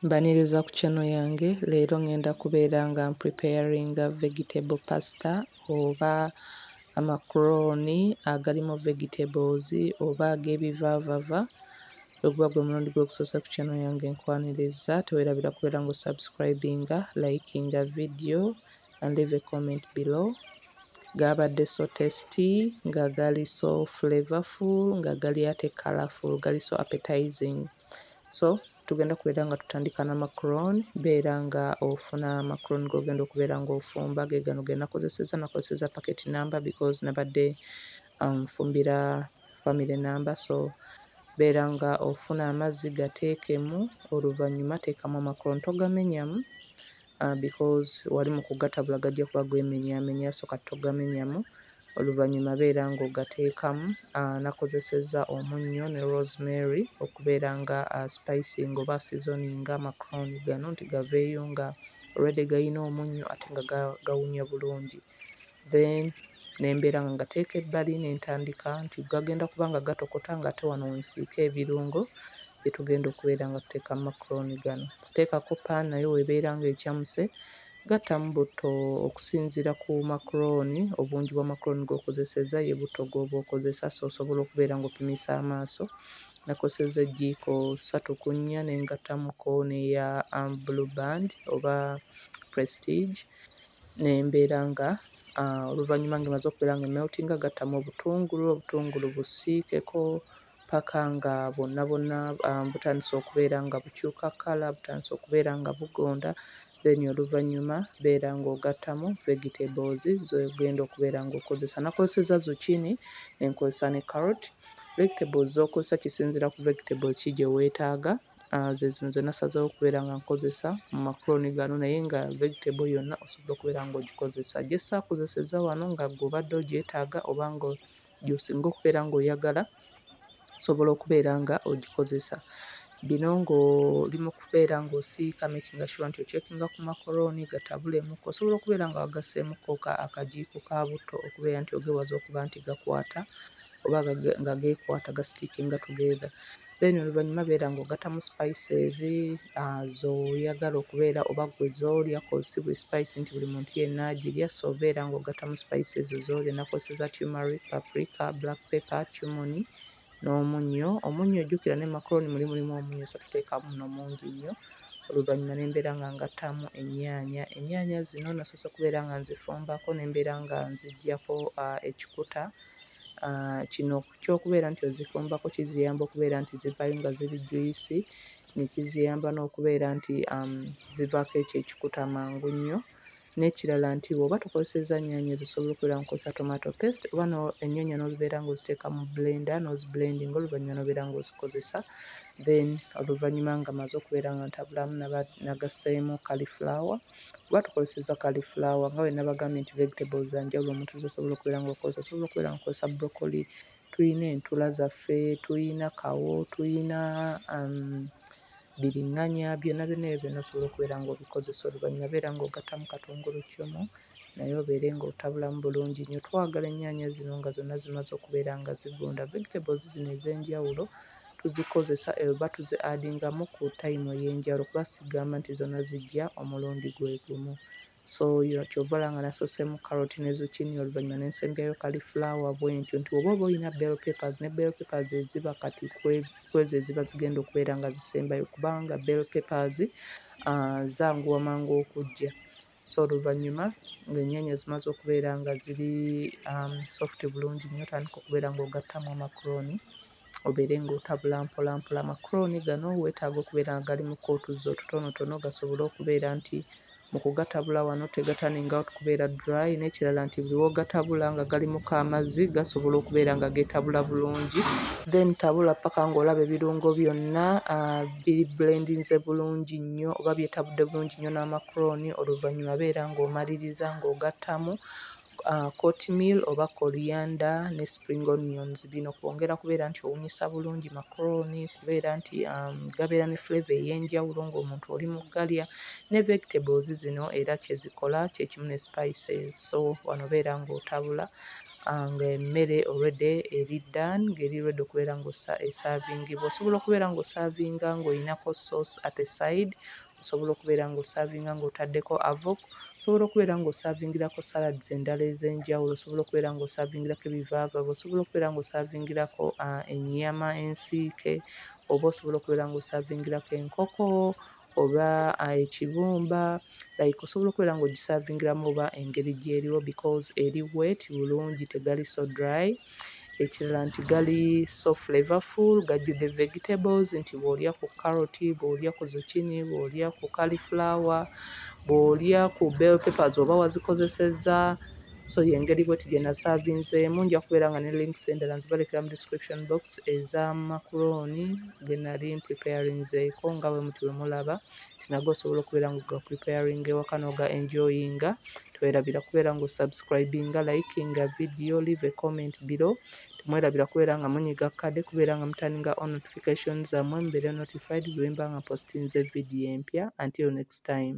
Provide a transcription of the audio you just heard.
Mbaniriza ku channel yange leero ngenda kubeera nga mpreparinga vegetable pasta oba amakroni agalimu vegetables oba agebivaavava weguba gwe mulundi gwo ogusoose ku channel yange nkwaniriza tewerabira kubeera nga osubscribinga likinga video and leave a comment below gaabadde so tasty nga gali so flavorful nga gali ate colorful gali so appetizing so tugenda kubeera nga tutandika na macron beera nga ofuna macron gogenda okubeera nga ofumba gegano genakozeseza nakozeseza packet number because nabadde nfumbira family number so beera nga ofuna amazzi gateekemu oluvanyuma teekamu amacron togamenyamu because wali mukugatabula gajja kuba gwemenyamenya so kati togamenyamu. Oluvannyuma beera ng'ogateekamu nakozesezza omunnyo ne rosemary okubeera nga spicinga oba seasoninga amacrooni gano nti gaveeyo nga already gayina omunnyo ate nga gawunya bulungi then ne mbeera nga ngateeka ebbali ne ntandika nti gagenda kuba nga gatokota ng'ate wano we nsiika ebirungo bye tugenda okubeera nga tuteeka mu macrooni gano. Nteekako pan nayo w'ebeera ng'ecamuse Gattamu butto okusinziira ku makulooni, obungi bwa makulooni g'okozesezza ye butto gw'oba okozesa so osobola okubeera ng'opimisa amaaso. Nakozesezza ejjiiko ssatu ku nnya ne ngattamuko n'eya Blue Band oba Prestige ne mbeera nga oluvannyuma ng'emaze okubeera ng'emeltinga gattamu obutungulu, obutungulu busiikeko. ppaka nga bwonna bwonna butandise okubeera nga bukyuka kkala, butandise okubeera nga bugonda then oluvannyuma beera ng'ogattamu vegetables z'ogenda okubeera ng'okozesa. Nakozesezza zucchini ne nkozesa ne carrot. Vegetables z'okozesa kisinziira ku vegetables ki gye weetaaga. Ah, ze zino ze nasazeewo okubeera nga nkozesa mu macaroni gano naye nga vegetable yonna osobola okubeera ng'ogikozesa. Gye saakozesezza wano nga gwe obadde ogyetaaga oba nga gy'osinga okubeera ng'oyagala osobola okubeera nga ogikozesa. Bino ng'oli mu kubeera ng'osiika makinga shuwa nti okyekinga ku makolooni gatabulemuko, osobola okubeera nga wagasseemukko ka akagiiko ka butto okubeera nti ogewaza okuba nti gakwata oba nga geekwata gasitiikinga together. then oluvannyuma beera ng'ogattamu spices uh, zoyagala okubeera oba gwe zolya kosi buli spice nti buli muntu yenna agirya so beera ng'ogattamu spices zolya nakoseza tumeric paprika black pepper cumoni n'omunnyo omunnyo ojjukira ne macaroni muli mulimu omunnyo so tuteekamu no mungi nnyo oluvannyuma ne mbeera nga ngattamu ennyaanya ennyaanya zino nasoose okubeera nga nzifumbako ne mbeera nga nziggyako uh, ekikuta uh, kino Eky'okubeera nti ozikombako kiziyamba okubeera nti zivaayo nga ziri juyisi, ne kiziyamba n'okubeera nti zivaako ekyo ekikuta mangu nnyo. N'ekirala nti bw'oba tokozesezza nnyaanya ezo osobola okubeera nga okozesa tomato paste oba ennyaanya n'ozibeera ng'oziteeka mu bbulenda n'ozibulendinga oluvannyuma n'obeera ng'ozikozesa then oluvannyuma ng'amaze okubeera nga ntabulaamu nagasseemu cauliflower. Kuba tukozesezza cauliflower nga bwe nabagambye nti vegetables za njawulo omuntu z'osobola okubeera nga okozesa. Osobola okubeera nga okozesa broccoli, tulina entula zaffe, tulina kawo, tulina bbiringanya, byonna byonna ebyo byonna osobola okubeera nga obikozesa. Oluvannyuma beera nga ogattamu katunguluccumu naye obeere nga otabulamu bulungi nnyo. Twagala ennyaanya zino nga zonna zimaze okubeera nga zivunda. Vegetables zino ez'enjawulo tuzikozesa oba tu zi adingamu ku time eyenjawulo kuba sigamba nti zona zijja omulundi gwegumu so kyova olaba nga nasosemu carrot ne zucchini oluvanyuma nensembyayo kali flower bwentyo nti oba oba olina bell papers ne bell papers eziba kati kwezo eziba zigenda okubeera nga zisembayo kubanga bell papers uh, zanguwa mangu okujja so oluvannyuma ng'ennyaanya zimaze okubeera nga ziri soft bulungi nnyo otandika okubeera ng'ogattamu amacrooni obeere ng'otabula mpolampola. Amacrooni gano weetaaga okubeera nga galimu kko otuzzi otutonotono gasobole okubeera nti mu kugatabula wano tegaturning out kubeera dry n'ekirala nti buli w'ogatabula nga galimukko amazzi gasobola okubeera nga geetabula bulungi then tabula ppaka ng'olaba ebirungo byonna. biri bulendinze bulungi nnyo oba byetabudde bulungi nnyo n'amakulooni oluvannyuma beera ng'omaliriza ng'ogattamu courtmeal oba korianda ne spring onions bino kwongera kubeera nti owunyisa bulungi makulooni kubeera nti gabeera ne flavour ey'enjawulo ng'omuntu oli mu galya ne vegetables zino era kye zikola kye kimu ne spices so wano obeera ng'otabula ah, ng'emmere already eri dan ng'eri ready okubeera ng'esaavingibwa osobola okubeera ng'osaavinga ng'olinako sauce at a side osobola okubeera ng'osaavinga ng'otaddeko avok osobola okubeera ng'osaavingirako salads endala ez'enjawulo osobola okubeera ng'osaavingirako ebivaavava osobola okubeera ng'osaavingirako ah, ennyama ensiike oba osobola okubeera ng'osaavingirako enkoko oba ekibumba like osobola okubeera nga ogisavingiramu oba engeri gyeriwo because eri wet bulungi tegali so dry ekirala nti gali so flavorful gajjudde vegetables nti bw'olya ku carrot bw'olya ku zucchini bw'olya ku cauliflower bw'olya ku bell papers oba wazikozesezza so yengeri bweti gyenasavinzeemu nja kubeera nga ne links endala nzibalekera mu description box eza makuroni genali mpreparinzeeko nga bwe muti wemulaba tinaga osobola okubeera nga ga preparing ewaka noga enjoyinga twerabira kubeera nga osubscribinga likinga video leave a comment below temwerabira kubeera nga munyiga kade kubeera nga mutaninga on notification zammwe mubeere notified bwemba nga postinze video empya until next time